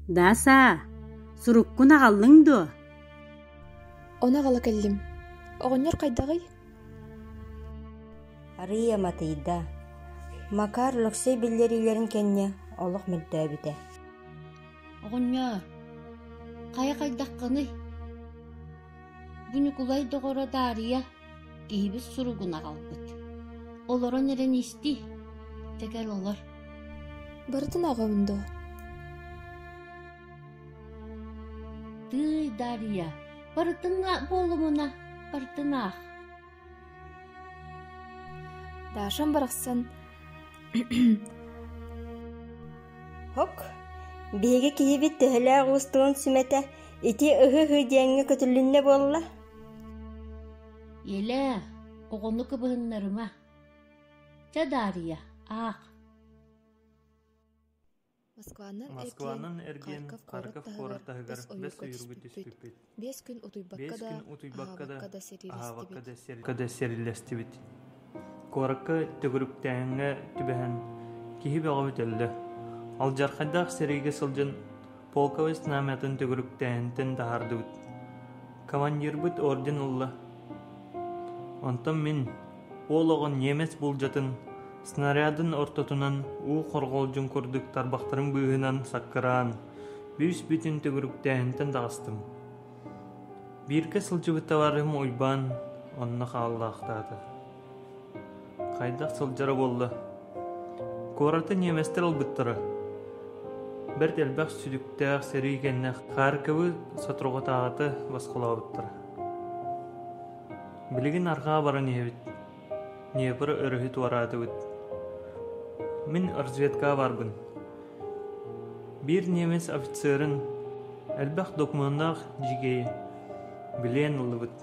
Даасаа, суруккун аҕаллыҥ дуо? Ону аҕала кэллим. Оҕонньор хайдаҕый? Арыйа матыйда. Макар лөксөй биллэриилэрин кэннэ олох мөлтөөбүтэ. Оҕонньоор, хайа хайдаххыный? Бу Ньукулай доҕоро Даарыйа киһибит суругун аҕалбыт олорон эрэн исти тэтэр олор барытын аҕабын доо тыый дария барытына буолумуна барытын аах дашам барахсан һок биһиги киһибит төһөлөөх уустугун сүмэтэ ити ыһы ыһы диэҥҥэ көтүлүннэ буолла Элээ, оҕону кыбыһыннарыма. Чэ, Даарыйа, аах. Москванан, Москванан эргиэн Харьков куорат таһыгар бэс уйургут түспүппүт. Биэс күн утуйбакка да, аһаабакка да сирилэстибит. Куоракка төгүрүктээһиҥҥэ түбэһэн киһи бөҕө бүтэллэ. Алдьархайдаах сэриигэ сылдьан полковой знамятын төгүрүктээһинтэн таһаардыбыт. Командирбыт орден ылла. Онтон мин, уол оҕон немец буулдьатын, снарядын ортотунан уу хорҕолдьун курдук тарбахтарым быыһынан саккыраан, бүүс бүтүн төгүрүктээһинтэн таҕыстым. Бииргэ сылдьыбытталарым Уйбаан онно хааллаахтаата. Хайдах сылдьара буолла? Куораты ньиэмэстэр ылбыттара. Бэрт элбэх сүдүктээх сэрии кэннэ Харьковы соторутааҕыта босхолообуттара. Билигин арҕаа баран иһэбит Днепр өрүһү туораатыбыт. Мин разведкаҕа барбын. Биир немец офицерын, элбэх докумуоннаах дьигэйи, билиэн ыллыбыт.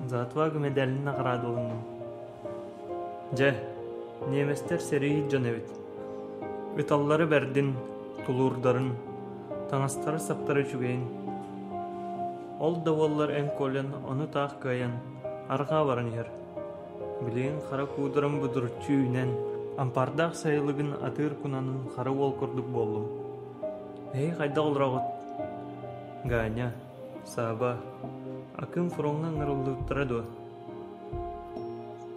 За отвагу медалин наградалынным. Дьэ, немецтэр сэрии дьон эбит. Ыталлары бэрдин, тулуурдарын, таҥастара-саптара үчүгэйин. Ол да буоллар эн Колин ону таах кыайан Арҕаа баран иһэр. Билигин хара куударым будуруччу үүнэн, ампаардаах сайылыгын атыыр кунанын хара уол курдук буоллум. Эһи хайдах олороҕут? Ганя, Сааба, Акым фроҥҥа ыҥырыллыбыттара дуо?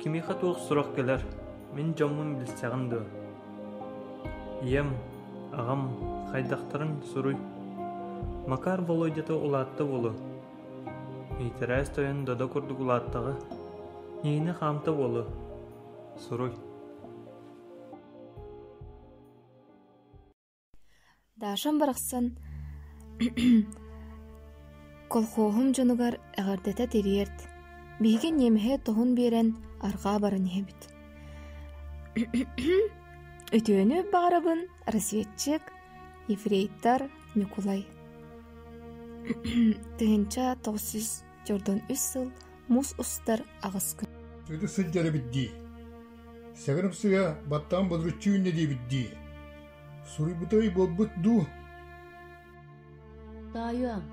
Кимиэхэ туох сурах кэлэр, мин дьоммун билсэҕин дуо? Ийэм, аҕам хайдахтарын суруй. Макар Володята улаатта буолуо. Иитэрээс тойон Додо курдук улааттаҕа, Ньиинэ хаамта уолу, суруй Дашам барахсан колхоһум дьонугар эҕэрдэтэ тириэрт, биһиги ниэмэһэ тоһун биэрэн арҕаа баран иһэбит. Үтүөнү баҕарабын, россиятчык, ефрейтор Ньукулай тыһыынча тоҕус сүүс дьордон үс сыл муус устар аҕыс күн Ити сылдьар эбит дии. Сэгэрэмсигэ баттаан бодруччу үүннэ диэбит дии. Суруйбутай буолбут дуу? Тоойуом,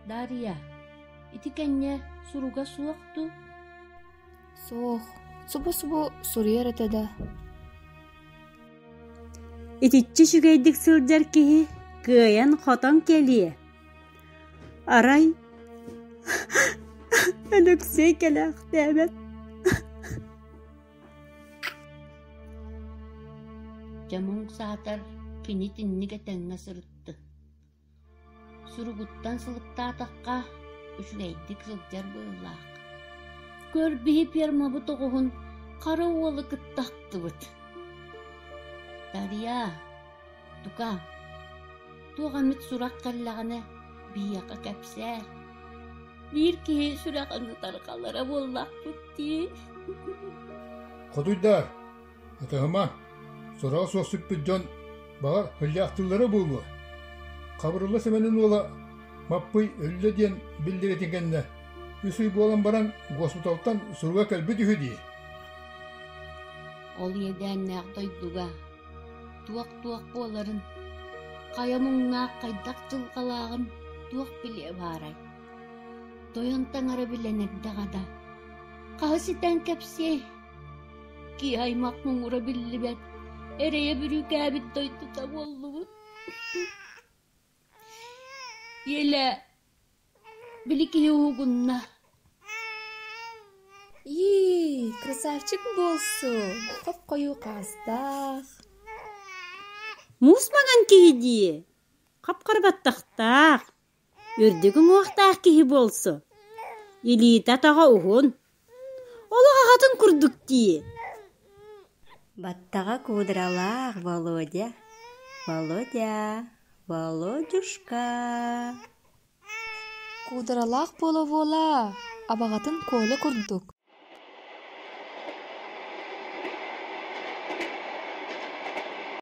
Дария, ити кэннэ суруга суох дуу? Суох, субу-субу суруйар этэ да Итиччэ үчүгэйдик сылдьар киһи кыайан-хотон кэлиэ. Арай Өлөксөй кэлээхтээбэт. Дьэ муҥ саатар кини тинник этэҥҥэ сырытты Суругуттан сылыктаатахха, үчүгэйдик сылдьар быһыылаах. Көр биһи фермабыт оҕуһун хара уолу кытта ахтыбыт. Дария, тука, туох эмит сурах кэллэҕинэ биһиэхэ кэпсээ. Биир киһи сүрэҕин утары халара буоллахпыт дии. Хотуйдаар, Атаһыма, сураҕа суох сүппүт дьон, баҕа сылдьаахтыыллара буолуо. Хабырылла Сэмэнин уола Маппый өллө диэн биллэритин кэннэ, үс ый буолан баран госпиталтан суруга кэлбит үһү дии. Ол иэдээннээх дойдуга туох-туох буоларын, хайа муҥнаах хайдах дьылҕалааҕын туох билиэ баарай? Тойон таҥара билэн эрдэҕэ да, хаһы ситэн кэпсиэй, киһи аймах муҥура биллибэт эрэйэ-бүрүүкээбит дойдута буоллубут Еля били киһи уһугунна Ии, красавчик буолсу, хоп-хойуу хаастаах. Муус маҥан киһи дии, хап-хара баттахтаах. үрдүк уҥуохтаах киһи буолсу, илиитэ-атаҕа уһун, олох аҕатын курдук дии Баттаҕа кудрялаах Володя, Володя, Володюшка Кудрялаах буола-буола абаҕатын Коля курдук